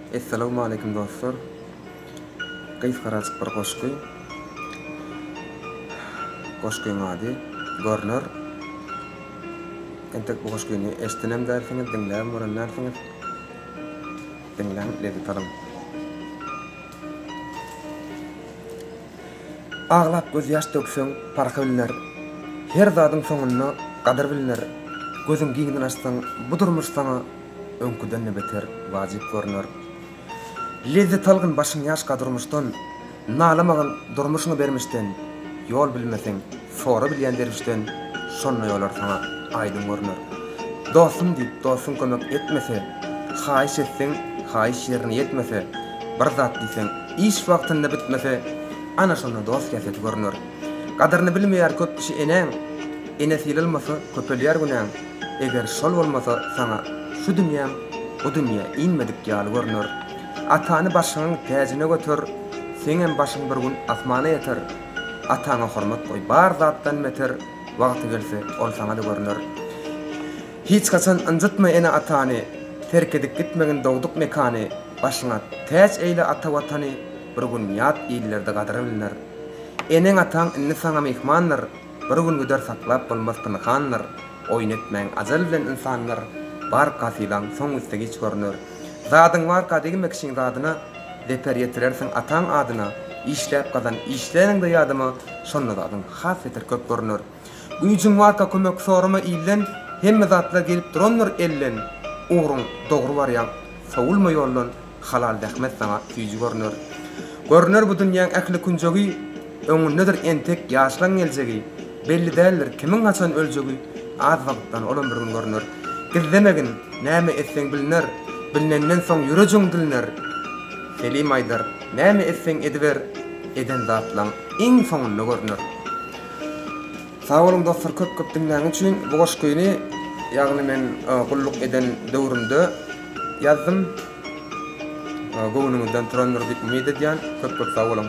Essalawmaleýkim dostlar. Gysgarajyk bir goşgy. Goşgyň ady Görner. Entek bu goşgyny eşdenem dälsiňiz, diňläbem gören dälsiňiz. Diňläň, lezzet alyň. Aglap gözýaş dökseň, parhy bilner, Her zadyň soňunda gadyr bilner, Gözüň giňden açsaň, bu durmuş saňa öňküden-de beter wajyp görner. Lezzet algyn başyň ýaşka durmuşdan, nalamagyn durmuşyňy bermişden, ýol bilmeseň, sora bilýän derwüşden, şonda ýolar saňa aýdyň görner. Dostum diýip dostuň kömek etmese, haýyş etseň, haýyş ýerine ýetmese, bir zat diýseň, iş wagtynda bitmese, ana şonda dost häsiýeti görner. Gadyryny bilmeýär köp kişi enäň, ene sylylmasa, köpelýär günäň. Eger şol bolmasa saňa şu dünýäň o dünýä inmedik ýaly görner. Atany başyňyň täjine göter, seňem başyň bir gün asmana ýeter. Ataňa hormat goý bar zatdan beter, wagty gelse ol saňa-da görner. Hiç haçan ynjytma ene-atany, terk edip gitmegin dogduk mekany. Başyňa täç eýle ata Watany, bir gün ýat illerde gadyry bilner. Eneň-ataň indi saňa myhmandyr. Bir gün gider saklap bolmaz pynhandyr Oýun etmäň ajal bilen ynsandyr Barka sylaň soň üsti giç görüner Zadyň barka degme kişiň zadyna Zeper ýetirersiň ataň adyna Işläp gazan işleriňde ýadyma Şonda zadyň has beter köp görüner Güýjüň barka kömek sorama ilden Hemme zatlar gelip durandyr elden Ugruň dogry barýaň sowulma ýoldan Halal zähmet saňa süýji görner. Görner bu dünýäň ähli künjegi, Öňündedir entek ýaşlaň geljegi. Belli däldir, kimiň haçan öljegi, Az wagtdan olam bir gün görner. Gizlemegin, näme etseň bilner, Bilnenden soň ýürejüň dilner. Selim aýdar, näme etseň ediber, Eden zatlaň iň soňunda görner. Sag boluň dostlar köp köp diňläniň üçin bu goşgyny ýagny men gulluk eden döwrümde. Ýazdym. Göwnüňizden turandyr diýip umyt edýän. Köp köp sag boluň.